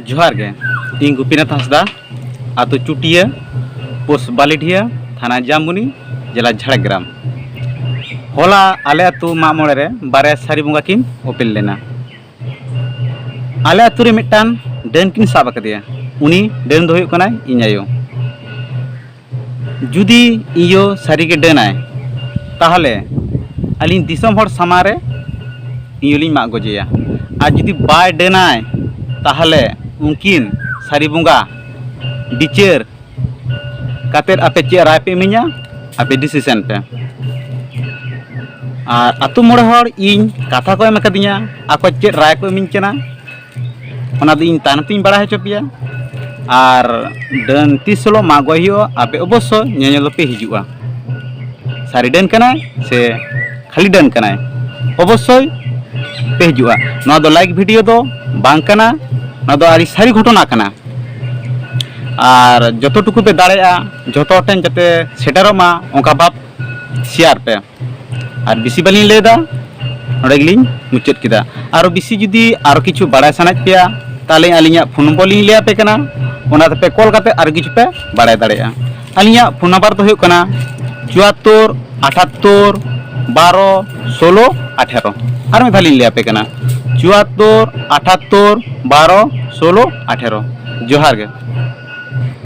ᱡᱚᱦᱟᱨ ᱜᱮ ᱤᱧ ᱜᱩᱯᱤᱱᱟᱛᱷ ᱦᱟᱸᱥᱫᱟ ᱟᱛᱳ ᱪᱩᱴᱤᱭᱟᱹ ᱯᱳᱥᱴ ᱵᱟᱞᱤᱰᱤᱭᱟᱹ ᱛᱷᱟᱱᱟ ᱡᱟᱢᱵᱩᱱᱤ ᱡᱮᱞᱟ ᱡᱷᱟᱲᱜᱨᱟᱢ ᱦᱚᱞᱟ ᱟᱞᱮ ᱟᱛᱳ ᱢᱟᱜ ᱢᱚᱬᱮ ᱨᱮ ᱵᱟᱨᱭᱟ ᱥᱟᱹᱨᱤ ᱵᱚᱸᱜᱟ ᱠᱤᱱ ᱳᱯᱮᱞ ᱞᱮᱱᱟ ᱟᱞᱮ ᱟᱛᱳ ᱨᱮ ᱢᱤᱫᱴᱟᱝ ᱰᱟᱹᱱ ᱠᱤᱱ ᱥᱟᱵ ᱟᱠᱟᱫᱮᱭᱟ ᱩᱱᱤ ᱰᱟᱹᱱ ᱫᱚ ᱦᱩᱭᱩᱜ ᱠᱟᱱᱟᱭ ᱤᱧ ᱟᱭᱳ ᱡᱩᱫᱤ ᱤᱭᱳ ᱥᱟᱹᱨᱤᱜᱮ ᱰᱟᱹᱱᱟᱭ ᱛᱟᱦᱚᱞᱮ ᱟᱹᱞᱤᱧ ᱫᱤᱥᱚᱢ ᱦᱚᱲ ᱥᱟᱢᱟᱝ ᱨᱮ ᱤᱭᱳ ᱞᱤᱧ ᱢᱟᱜ ᱜᱚᱡᱮᱭᱟ ᱟᱨ ᱡᱩᱫᱤ ᱵᱟᱭ ᱰᱟᱹᱱᱟᱭ ᱛᱟᱦᱚᱞᱮ ᱩᱱᱠᱤᱱ ᱥᱟᱹᱨᱤ ᱵᱚᱸᱜᱟ ᱵᱤᱪᱟᱹᱨ ᱠᱟᱛᱮᱫ ᱟᱯᱮ ᱪᱮᱫ ᱨᱟᱭ ᱯᱮ ᱤᱢᱟᱹᱧᱟ ᱟᱯᱮ ᱰᱤᱥᱤᱥᱮᱱ ᱯᱮ ᱟᱨ ᱟᱛᱳ ᱢᱚᱬᱮ ᱦᱚᱲ ᱤᱧ ᱠᱟᱛᱷᱟ ᱠᱚ ᱮᱢ ᱟᱠᱟᱫᱤᱧᱟ ᱟᱠᱚ ᱪᱮᱫ ᱨᱟᱭ ᱠᱚ ᱤᱢᱟᱹᱧ ᱠᱟᱱᱟ ᱚᱱᱟ ᱫᱚ ᱤᱧ ᱛᱟᱭᱱᱚᱢ ᱛᱤᱧ ᱵᱟᱲᱟᱭ ᱦᱚᱪᱚ ᱯᱮᱭᱟ ᱟᱨ ᱰᱟᱹᱱ ᱛᱤᱥ ᱦᱤᱞᱳᱜ ᱢᱟᱜ ᱜᱚᱡ ᱦᱩᱭᱩᱜᱼᱟ ᱟᱯᱮ ᱚᱵᱚᱥᱥᱳᱭ ᱧᱮᱧᱮᱞ ᱯᱮ ᱦᱤᱡᱩᱜᱼᱟ ᱥᱟᱹᱨᱤ ᱰᱟᱹᱱ ᱠᱟᱱᱟᱭ ᱥᱮ ᱠᱷᱟᱹᱞᱤ ᱰᱟᱹᱱ ᱠᱟᱱᱟᱭ ᱚᱵᱚᱥᱥᱳᱭ ᱯᱮ ᱦᱤᱡᱩᱜᱼᱟ ᱱᱚᱣᱟ ᱫᱚ ᱞᱟᱭᱤᱠ ᱵᱷᱤᱰᱤᱭᱳ ᱫᱚ ᱵᱟᱝ ᱠᱟᱱᱟ ᱱᱚᱣᱟ ᱫᱚ ᱟᱹᱰᱤ ᱥᱟᱹᱨᱤ ᱜᱷᱚᱴᱚᱱᱟ ᱠᱟᱱᱟ ᱟᱨ ᱡᱚᱛᱚ ᱴᱩᱠᱩ ᱯᱮ ᱫᱟᱲᱮᱭᱟᱜᱼᱟ ᱡᱚᱛᱚ ᱦᱚᱲ ᱴᱷᱮᱱ ᱡᱟᱛᱮ ᱥᱮᱴᱮᱨᱚᱜ ᱢᱟ ᱚᱱᱠᱟ ᱵᱷᱟᱵᱽ ᱥᱮᱭᱟᱨ ᱯᱮ ᱟᱨ ᱵᱮᱥᱤ ᱵᱟᱹᱞᱤᱧ ᱞᱟᱹᱭᱫᱟ ᱱᱚᱰᱮ ᱜᱮᱞᱤᱧ ᱢᱩᱪᱟᱹᱫ ᱠᱮᱫᱟ ᱟᱨ ᱵᱮᱥᱤ ᱡᱩᱫᱤ ᱟᱨᱚ ᱠᱤᱪᱷᱩ ᱵᱟᱲᱟᱭ ᱥᱟᱱᱟᱭᱮᱫ ᱯᱮᱭᱟ ᱛᱟᱦᱚᱞᱮ ᱟᱹᱞᱤᱧᱟᱜ ᱯᱷᱳᱱ ᱱᱚᱢᱵᱚᱨ ᱞᱤᱧ ᱞᱟᱹᱭᱟᱯᱮ ᱠᱟᱱᱟ ᱚᱱᱟ ᱛᱮᱯᱮ ᱠᱚᱞ ᱠᱟᱛᱮᱫ ᱟᱨᱚ ᱠᱤᱪᱷᱩ ᱯᱮ ᱵᱟᱲᱟᱭ ᱫᱟᱲᱮᱭᱟᱜᱼᱟ ᱟᱹᱞᱤᱧᱟᱜ ᱯᱷᱳᱱ ᱱᱟᱢᱵᱟᱨ ᱫᱚ ᱦᱩᱭᱩᱜ ᱠᱟᱱᱟ ᱪᱩᱣᱟᱛᱛᱳᱨ ᱟᱴᱷᱟᱛᱛᱳᱨ ᱵᱟᱨᱚ ᱥᱳᱞᱳ ᱟᱴᱷᱮᱨᱚ ᱟᱨ ᱢᱤᱫ ᱫᱷᱟᱣ ᱞᱤᱧ ᱞᱟᱹᱭ ᱟᱯᱮ ᱠᱟᱱᱟ ᱪᱩᱣᱟᱛᱛᱳᱨ ᱟᱴᱷᱟᱛᱛᱳᱨ ᱵᱟᱨᱚ ᱥᱳᱞᱳ ᱟᱴᱷᱮᱨᱚ ᱡᱚᱦᱟᱨ ᱜᱮ